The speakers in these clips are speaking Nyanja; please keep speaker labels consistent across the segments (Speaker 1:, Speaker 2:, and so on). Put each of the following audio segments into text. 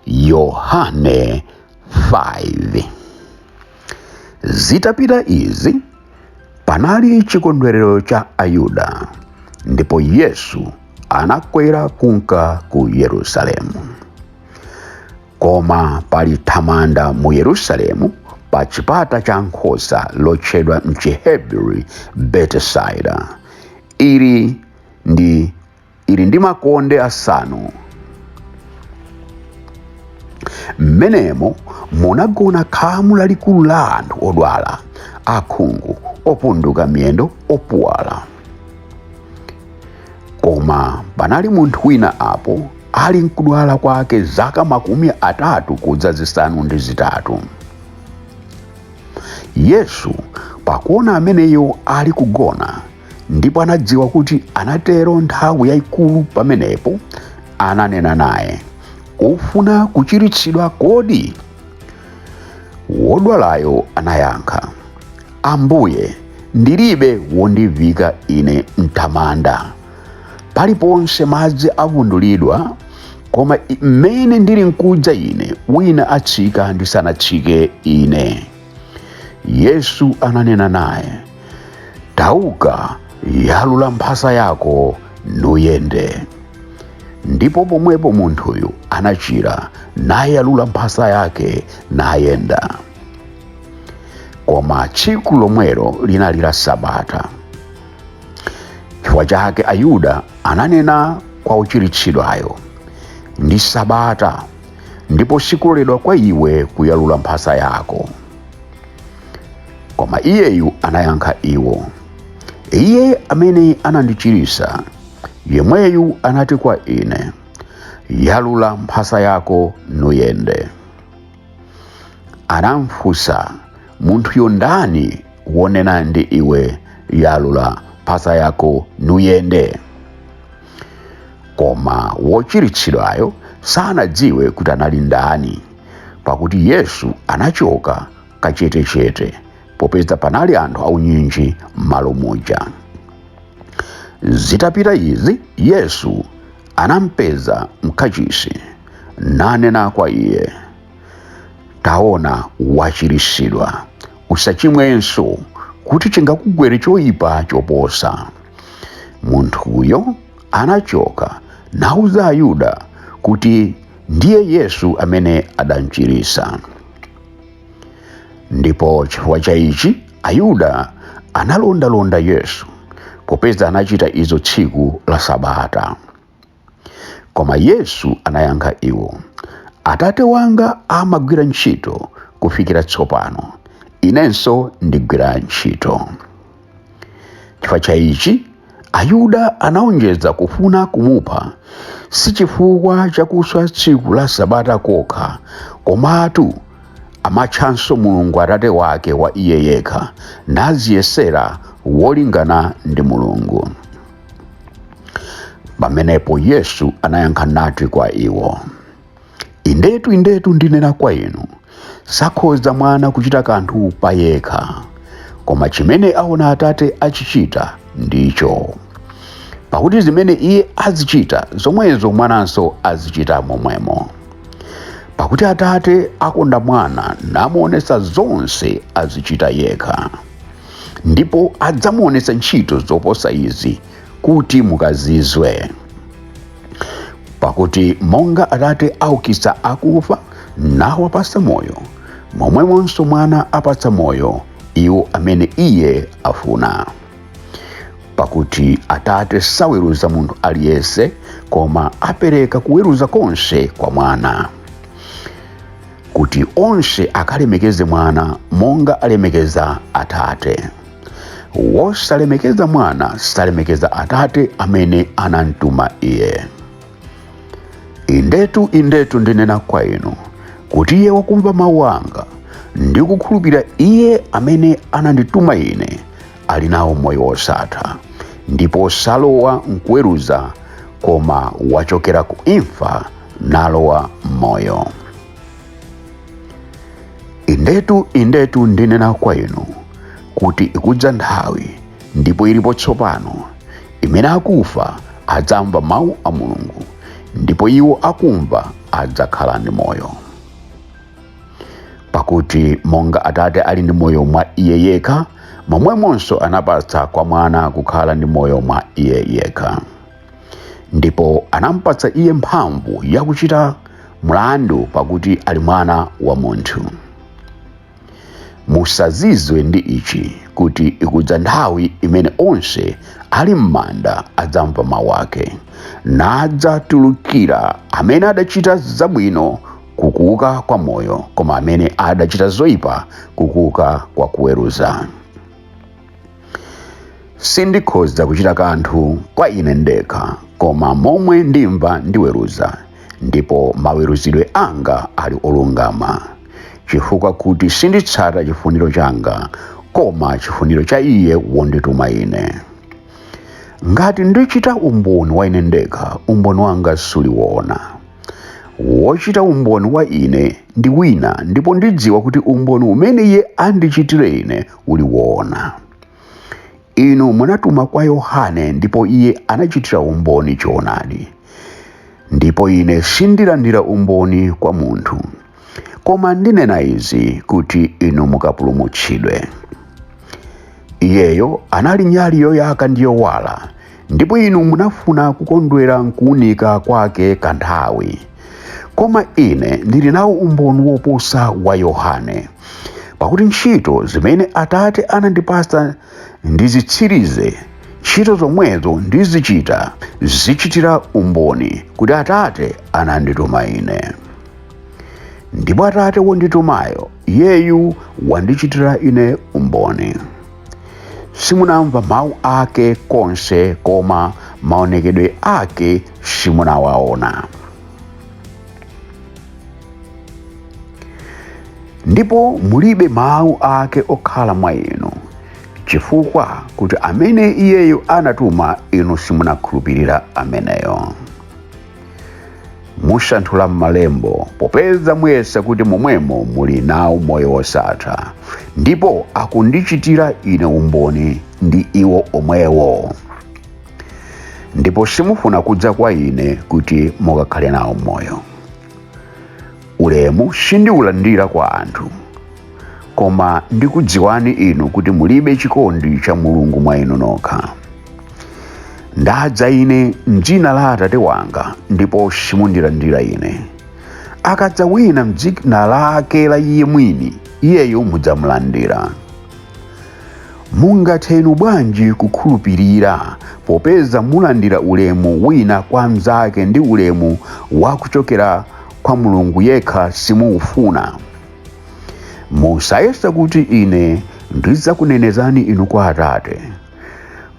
Speaker 1: yohane 5 zitapita izi panali chikondwerero cha ayuda ndipo yesu anakwera kunka ku yerusalemu Koma pali thamanda mu Yerusalemu pa chipata cha nkhosa lotchedwa m'Chihebri Betisaida. Ili ndi ili ndi makonde asanu. Mmenemo munagona khamu lalikulu la anthu odwala, akhungu, opunduka miyendo, opuwala. koma panali munthu wina apo ali nkudwala kwake zaka makumi atatu kudza zisanu ndi zitatu yesu pakuona ameneyo ali kugona ndipo anadziwa kuti anatero nthawi yayikulu pamenepo ananena naye ufuna kuchiritsidwa kodi wodwalayo anayankha ambuye ndilibe wondivika ine m'thamanda paliponse madzi avundulidwa koma mmene ndili nkudza ine wina atsika ndisanatsike ine yesu ananena naye tauka yalula mphasa yako nuyende ndipo pomwepo munthuyu anachira nayalula mphasa yake nayenda koma tsiku lomwelo linali la sabata chifukwa chake ayuda ananena kwa wochiritsidwayo ndi sabata ndipo sikuloledwa kwa iwe kuyalula mphasa yako koma iyeyu anayankha iwo iye amene anandichiritsa yemweyu anati kwa ine yalula mphasa yako nuyende anamfunsa munthuyo ndani wonena ndi iwe yalula mphasa yako nuyende koma wochiritsidwayo sanadziwe kuti anali ndani pakuti yesu anachoka kachetechete popeza panali anthu aunyinji m'malo muja zitapita izi yesu anampeza m'kachisi nanena kwa iye taona wachiritsidwa usachimwenso kuti chingakugwere choyipa choposa munthuyo anachoka nauza ayuda kuti ndiye yesu amene adamchiritsa ndipo chifukwa cha ichi ayuda analondalonda yesu popeza anachita izo tsiku la sabata koma yesu anayankha iwo atate wanga amagwira ntchito kufikira tsopano inenso ndigwira ntchito chifukwa cha ichi ayuda anaonjeza kufuna kumupha si chifukwa chakuswa tsiku la sabata kokha komatu amatchanso mulungu atate wake wa iye yekha nadziyesera wolingana ndi mulungu pamenepo yesu anayankha nati kwa iwo indetu indetu ndinena kwa inu sakhoza mwana kuchita kanthu pa yekha koma chimene aona atate achichita ndicho pakuti zimene iye azichita zomwezo mwananso azichita momwemo pakuti atate akonda mwana namuonesa zonse azichita yekha ndipo adzamuonesa ntchito zoposa izi kuti mukazizwe pakuti monga atate aukitsa akufa nawapatsa moyo momwemonso mwana apatsa moyo iwo amene iye afuna pakuti atate saweruza munthu aliyense koma apereka kuweruza konse kwa mwana kuti onse akalemekeze mwana monga alemekeza atate wosalemekeza mwana salemekeza atate amene anamtuma iye indetu indetu ndinena kwa inu kuti iye wakumva mawu anga ndi kukhulupirira iye amene anandituma ine ali nawo moyo wosatha ndipo salowa m'kuweruza koma wachokera ku imfa nalowa m'moyo indetu indetu ndinena kwa inu kuti ikudza nthawi ndipo ilipo tsopano imene akufa adzamva mawu a mulungu ndipo iwo akumva adzakhala ndi moyo pakuti monga atate ali ndi moyo mwa iye yekha momwemonso anapatsa kwa mwana kukhala ndi moyo mwa iye yekha ndipo anampatsa iye mphamvu yakuchita mlandu pakuti ali mwana wa munthu musazizwe ndi ichi kuti ikudza nthawi imene onse ali m'manda adzamva mawu ake nadzatulukira amene adachita zabwino kukuuka kwa moyo koma amene adachita zoyipa kukuuka kwa kuweruza sindikhoza kuchita kanthu kwa ine ndekha koma momwe ndimva ndiweruza ndipo maweruzidwe anga ali olungama chifukwa kuti sinditsata chifuniro changa koma chifuniro cha iye wondituma ine ngati ndichita umboni wa ine ndekha umboni wanga suli woona wochita umboni wa ine ndi wina ndipo ndidziwa kuti umboni umene iye andichitire ine uli woona inu munatuma kwa yohane ndipo iye anachitira umboni choonadi ndipo ine sindilandira umboni kwa munthu koma ndinena izi kuti inu mukapulumutsidwe iyeyo anali nyali yoyaka ndi yowala ndipo inu munafuna kukondwera m'kuunika kwake kanthawi koma ine ndili nawo umboni woposa wa yohane pakuti ntchito zimene atate anandipasa ndizitsirize ntchito zomwezo ndizichita zichitira umboni kuti atate anandituma ine ndipo atate wonditumayo iyeyu wandichitira ine umboni simunamva mawu ake konse koma maonekedwe ake simunawaona ndipo mulibe mawu ake okhala mwa inu chifukwa kuti amene iyeyo anatuma inu simunakhulupirira ameneyo musanthula m'malembo popeza muyesa kuti momwemo muli nawo moyo wosatha ndipo akundichitira ine umboni ndi iwo omwewo ndipo simufuna kudza kwa ine kuti mukakhale nawo moyo ulemu sindiulandira kwa anthu koma ndikudziwani inu kuti mulibe chikondi cha mulungu mwa inu nokha ndadza ine m'dzina la atate wanga ndipo simundilandira ine akadza wina m'dzina lake la iye mwini iyeyo mudzamulandira mungathe inu bwanji kukhulupirira popeza mulandira ulemu wina kwa mnzake ndi ulemu wakuchokera kwa mulungu yekha simuufuna musayesa kuti ine ndidzakunenezani inu kwa atate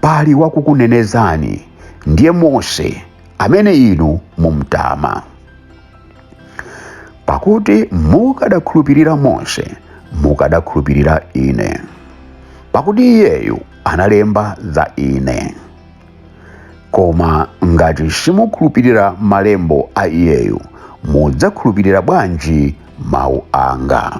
Speaker 1: pali wakukunenezani ndiye mose amene inu mumtama pakuti mukadakhulupirira mose mukadakhulupirira ine pakuti iyeyu analemba za ine koma ngati simukhulupirira malembo a iyeyu mudzakhulupirira bwanji mawu anga